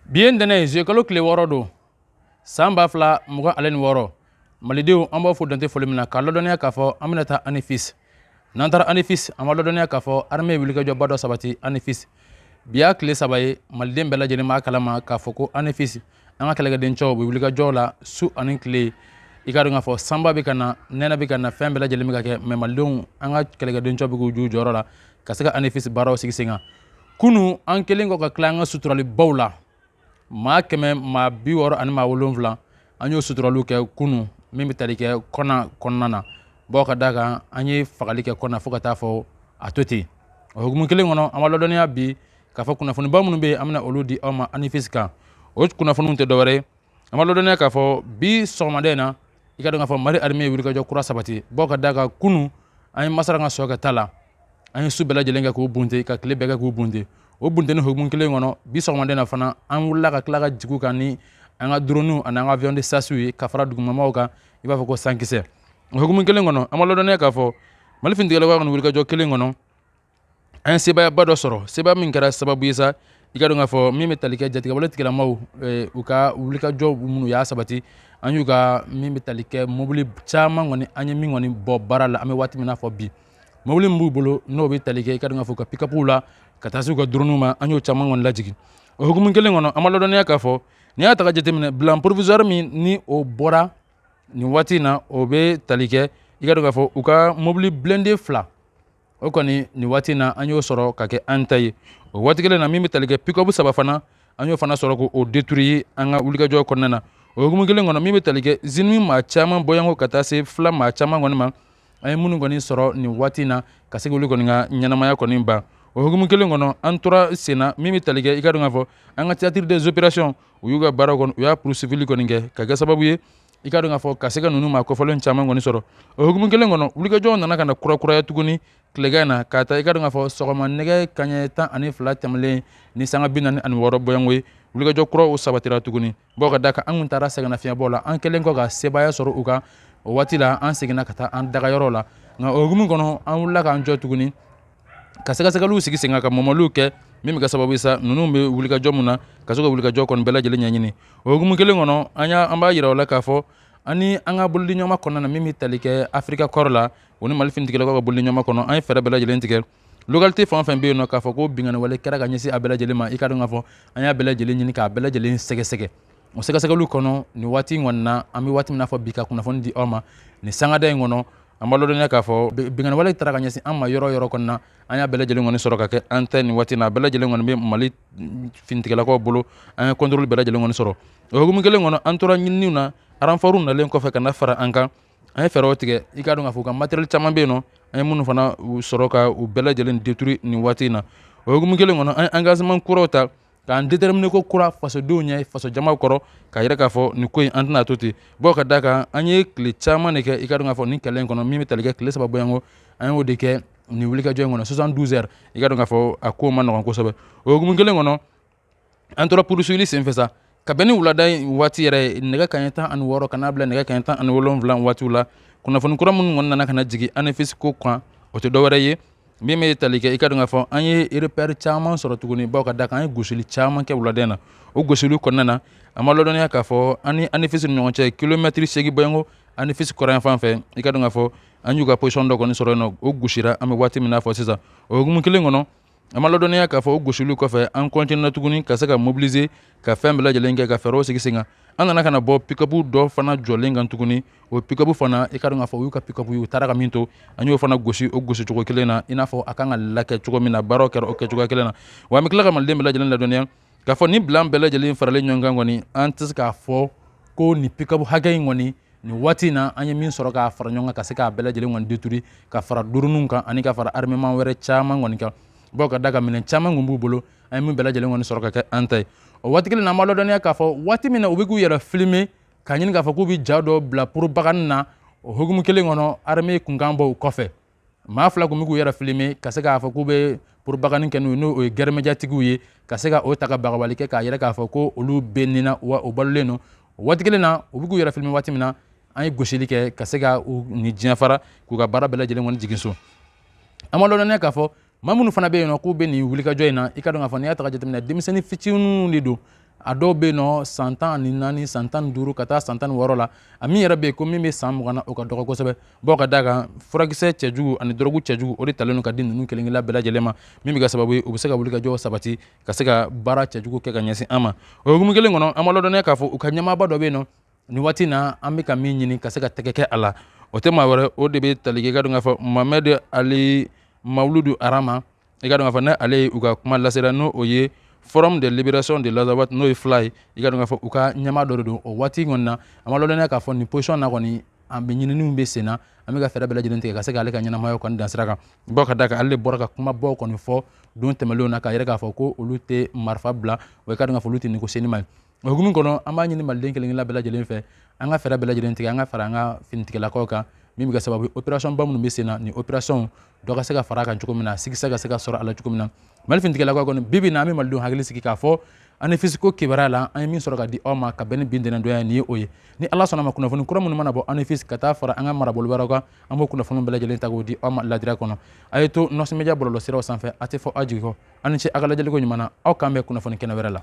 bi ye ntɛnɛ ye zuyekalo tile wɔɔrɔ don san ba fila mugan ale ni wɔɔrɔ malidenw an b'a fo dante foli min na k'a lɔdɔniya k'a fɔ an bɛna taa anifis n'an taara anifis an b'a lɔdɔniya k'a fɔ arme ye wulikajɔba dɔ sabati anifis bi y'a tile saba ye maliden bɛɛ lajɛlen b'a kalama k'a fɔ ko anifis an ka kɛlɛkɛdencɛw bɛ wulikajɔ la su ani tile i k'a dɔn k'a fɔ sanba bɛ ka na nɛnɛ bɛ ka na fɛn bɛɛ lajɛlen bɛ ka kɛ mɛ malidenw an ka kɛlɛkɛdencɛw bɛ k'u j'u jɔyɔrɔ la ka se ka anifis baaraw sigi sen kan kunun an kelen kɔ ka tila an ka suturalibaw la maa kɛmɛ maa bi wɔɔrɔ ani maa wolonwula an y'o suturaliw kɛ kunun min bɛ tali kɛ kɔna kɔnɔna na bawo ka d'a kan an ye fagali kɛ kɔna fo ka taa fɔ a to ten o hukumu kelen kɔnɔ an b'a ladɔnniya bi k'a fɔ kunnafoniba minnu bɛ yen an bɛna olu di aw ma anifisi kan o kunnafoniw tɛ dɔwɛrɛ ye an b'a ladɔnniya k'a fɔ bi sɔgɔmada in na i ka dɔn k'a fɔ mali arime ye wulikajɔ kura sabati bɔ ka da kan kunu an ye masara ka sɔkɛ ta la an ye su bɛɛ lajɛlen kɛ k'u bunte ka tile bɛɛ kɛ k'u bunte o bunteni hukumu kelen kɔnɔ bi sɔgɔmada in na fana an wulila ka tila ka jig'u kan ni an ka droniw ani an ka avion de chassew ye ka fara dugumamaw kan i b'a fɔ ko sankisɛ o hukumu kelen kɔnɔ an b'a lɔdɔnniya k'a fɔ mali finitigilakaw kɔni wulikajɔ kelen kɔnɔ an ye sebaayaba dɔ sɔrɔ sebaaya min kɛra sababu ye sa i ka dɔn k'a fɔ min bɛ tali kɛ jatigɛwale tigilamaw u ka wulikajɔ minnu y'a sabati an y'u ka min bɛ tali kɛ mobili caman kɔni an ye min kɔni bɔ baara la an bɛ waati min na fɔ bi mobili min b'u bolo n'o bɛ tali kɛ i ka dɔn k'a fɔ ka pikapuw la ka taa se u ka duruniw ma an y'o caman kɔni lajigin o hukumu kelen kɔnɔ an b'a ladɔnniya k'a fɔ n'i y'a ta k'a jateminɛ bilan provisoire min ni o bɔra nin waati in na o bɛ tali kɛ i ka dɔn k'a fɔ u ka mobili blindé fila o kɔni nin waati na an y'o sɔrɔ ka kɛ an ta ye o waati kelen na min bɛ tali kɛ pikobu saba fana an y'o fana sɔrɔ k'o détruire an ka wulikajɔ kɔnɔna na o hukumu kelen kɔnɔ min bɛ tali kɛ zinimi maa caman bɔyanko ka taa se fila maa caman kɔni ma an ye minnu kɔni sɔrɔ nin waati na ka se k'olu kɔni ka ɲɛnamaya kɔni ban o hukumu kelen kɔnɔ an tora sen na min bɛ tali kɛ i ka dɔn k'a fɔ an ka théâtre des opérations u y'u ka baaraw kɔni u y'a poursuivili kɔni kɛ ka kɛ sababu ye i ka dɔn k'a fɔ ka se ka ninnu maa kofɔlen caman kɔni sɔrɔ o hukumu kelen kɔnɔ wulikajɔw nana ka na kurakuraya tuguni tilegan in na k'a ta i ka dɔn k'a fɔ sɔgɔma nɛgɛ kaɲɛ tan ani fila tɛmɛlen ni sanga bi naani ani wɔɔrɔ bɔyanko ye wulikajɔ kuraw sabatira tuguni bawo ka da kan an tun taara sɛgɛnnafiɲɛbɔ la an kɛlen kɔ ka sebaaya sɔrɔ u kan o waati la an seginna ka taa an dagayɔrɔ la nka o hukumu kɔnɔ an wulila k'an jɔ tuguni ka sɛgɛsɛgɛliw sigi sen kan ka mɔmɔliw kɛ min bɛ kɛ sababu ye sa ninnu bɛ wulikajɔ min na ka se ka wulikajɔ kɔni bɛɛ lajɛlen ɲɛɲini o hukumu kelen kɔnɔ an b'a yira o la k'a fɔ ani an ka bolodiɲɔgɔnma kɔnɔna na min bɛ tali kɛ africa corps la o ni mali finitigilakaw ka bolodiɲɔgɔnma kɔnɔ an ye fɛɛrɛ bɛɛ lajɛlen tigɛ localité fɛn o fɛn bɛ yen n'o k'a fɔ ko binkanni wale kɛra ka ɲɛsin a bɛɛ lajɛlen ma i ka dɔn k'a fɔ an y'a bɛɛ lajɛlen ɲini k'a bɛɛ lajɛlen sɛgɛsɛgɛ o sɛgɛsɛgɛliw kɔnɔ nin waati in kɔni na an bɛ waati min n'a fɔ bi ka kunnafoni di aw ma nin sangada in kɔnɔ an b'a ladɔnniya k'a fɔ binkanni wale taara ka ɲɛsin an ma yɔrɔ yɔrɔ kɔnɔna na an y'a bɛɛ lajɛlen kɔni sɔrɔ ka kɛ an ta nin waati na a bɛɛ lajɛlen kɔni bɛ mali finitigilakaw bolo an ye kɔntɔrɔli bɛɛ lajɛlen kɔni sɔrɔ o hukumu kelen kɔnɔ an tora ɲininiw na aranfɔriw nalen kɔfɛ ka na fara an kan an ye fɛɛrɛw tigɛ i k'a dɔn k'a fɔ u ka matériel caman bɛ yen nɔ an ye minnu fana sɔrɔ ka u bɛɛ lajɛlen détruire nin waati in na o hukumu kelen kɔnɔ an ye angazeman kuraw ta k'an déterminer ko kura fasodenw ɲɛ fasojama kɔrɔ k'a yira k'a fɔ nin ko in an tɛna to ten bawo ka da kan an ye tile caman de kɛ i ka dɔn k'a fɔ nin kɛlɛ in kɔnɔ min bɛ tali kɛ tile saba bɔɲɔgɔnko an y'o de kɛ nin wulikajɔ in kɔnɔ 72 heures i ka dɔn k'a fɔ a ko man nɔgɔn kosɛbɛ o hukumu kelen kɔnɔ an tora purusuyili senfɛ sa ka bɛn ni wulada in waati yɛrɛ ye nɛgɛ kaɲɛ tan ani wɔɔrɔ ka n'a bila nɛgɛ kaɲɛ tan ani wolonwula waatiw la kunnafoni kura minnu kɔni nana ka na jigin anefisi ko kan o tɛ dɔwɛrɛ ye min bɛ tali kɛ i ka dɔn k'a fɔ an ye repère caman sɔrɔ tuguni bawo ka da kan an ye gosili caman kɛ wulada in na o gosili kɔnɔna na an b'a ladɔnniya k'a fɔ an ni anifisi ni ɲɔgɔn cɛ kilomɛtiri segin bɔɲɔgɔnko anifisi kɔrɔnyanfan fɛ i ka dɔn k'a fɔ an y'u ka position dɔ kɔni sɔrɔ yen nɔ o gosira an bɛ waati min n'a fɔ sisan o hukumu kelen kɔnɔ an b'a ladɔnniya k'a fɔ o gosili kɔfɛ an continuera tuguni ka se ka mobilize ka fɛn bɛɛ lajɛlen kɛ ka fɛɛrɛw sigi sen kan an nana ka na bɔ pikabu dɔ fana jɔlen kan tuguni o pikabu fana i ka dɔn k'a fɔ u y'u ka pikabu u taara ka min to an y'o fana gosi o gosi cogo kelen na i n'a fɔ a kan ka lakɛ cogo min na baaraw kɛra o kɛ cogoya kelen na wa an bɛ tila ka maliden bɛɛ lajɛlen ladɔnniya k'a fɔ ni bilan bɛɛ lajɛlen faralen ɲɔgɔn kan kɔni an tɛ se k'a fɔ ko nin pikabu hakɛ in kɔni nin waati in na an ye min sɔrɔ k'a fara ɲɔgɔn kan ka se k'a bɛɛ lajɛlen kɔni détruire ka fara dɔrɔniw kan ani ka fara armement wɛrɛ caman kɔni kan bawo ka da kan minɛn caman kun b'u bolo an ye min bɛɛ lajɛlen kɔni sɔrɔ ka kɛ an ta ye o waati kelen na an b'a ladɔnniya k'a fɔ waati min na u bɛ k'u yɛrɛ filime k'a ɲini k'a fɔ k'u bɛ ja dɔ bila propagande na o hukumu kelen kɔnɔ arme kunkan bɔ u kɔfɛ maa fila tun bɛ k'u yɛrɛ filime ka se k'a fɔ k'u bɛ propagande kɛ n'o ye n'o ye guerre médiatique ye ka se ka o ta ka bagabali kɛ k'a yira k'a fɔ ko olu bɛ nin na wa o balolen don o waati kelen na u bɛ k'u yɛrɛ filime waati min na an ye gosili kɛ ka se ka u ni diɲɛ fara k'u ka baara bɛɛ lajɛlen kɔni jigin so an b'a ladɔnniya k'a fɔ maa minnu fana bɛ yen nɔ k'u bɛ nin wulikajɔ in na i ka dɔn k'a fɔ n'i y'a ta ka jateminɛ denmisɛnnin fitininw de don a dɔw bɛ yen nɔ san tan ani naani san tan ni duuru ka taa san tan ni wɔɔrɔ la a min yɛrɛ bɛ yen ko min bɛ san mugan na o ka dɔgɔ kosɛbɛ bawo ka d'a kan furakisɛ cɛjugu ani dɔrɔgu cɛjugu o de talen don ka di ninnu kelen kelenna bɛɛ lajɛlen ma min bɛ kɛ sababu ye u bɛ se ka wulikajɔ sabati ka se ka baara cɛjugu kɛ ka ɲɛsin an ma o hukumu kelen kɔnɔ an b'a ladɔnniya k'a fɔ u ka ɲɛmaaba dɔ bɛ yen nɔ nin waati na an bɛ ka min ɲini ka se ka tɛgɛ kɛ a la o tɛ maa wɛrɛ o de bɛ tali kɛ i ka dɔn k'a fɔ mohamɛdi ali mawuludu arama i ka dɔn k'a fɔ n'ale ye u ka kumalasela n'o ye forum de libération de l'azawad n'o ye fla ye i ka dɔn k'a fɔ u ka ɲɛmaa dɔ de don o waati kɔni na an b'a ladɔnniya k'a fɔ nin position na kɔni an bɛ ɲininiw bɛ sen na an bɛ ka fɛɛrɛ bɛɛ lajɛlen tigɛ ka se k'ale ka ɲɛnamaya kɔni dan sira kan bawo ka da kan ale de bɔra ka kumabaw kɔni fɔ don tɛmɛnlenw na k'a yira k'a fɔ ko olu tɛ marifa bila wa i ka dɔn k'a fɔ olu tɛ niko senni ma ye o hukumu kɔnɔ an b'a ɲini maliden kelenkelen bɛɛ lajɛlen fɛ an ka fɛɛrɛ bɛɛ lajɛlen tigɛ an ka fara an ka finitigilakaw kan min bɛ kɛ sababu ye operasɔn ba minnu bɛ sen na nin operasɔnw dɔ ka se ka fara a kan cogo min na sikisɛ ka se ka sɔrɔ a la cogo min na mali finitigilakaw kɔni bi bi in na an bɛ malidenw hakili sigi k'a fɔ anefisi ko kibaruya la an ye min sɔrɔ ka di aw ma ka bɛn ni bi ntɛnɛndonya nin ye o ye ni ala sɔnna ma kunnafoni kura minnu mana bɔ anefisi ka taa fara an ka marabolo wɛrɛw kan an b'o kunnafoni bɛɛ lajɛlen ta k'o di aw ma ladira kɔnɔ a ye to nɔsɔn media bɔlɔlɔsiraw sanfɛ a tɛ fɔ aw jigi kɔ aw ni ce aw ka lajɛliko ɲuman na aw k'an bɛn kunnafoni kɛnɛ wɛrɛ la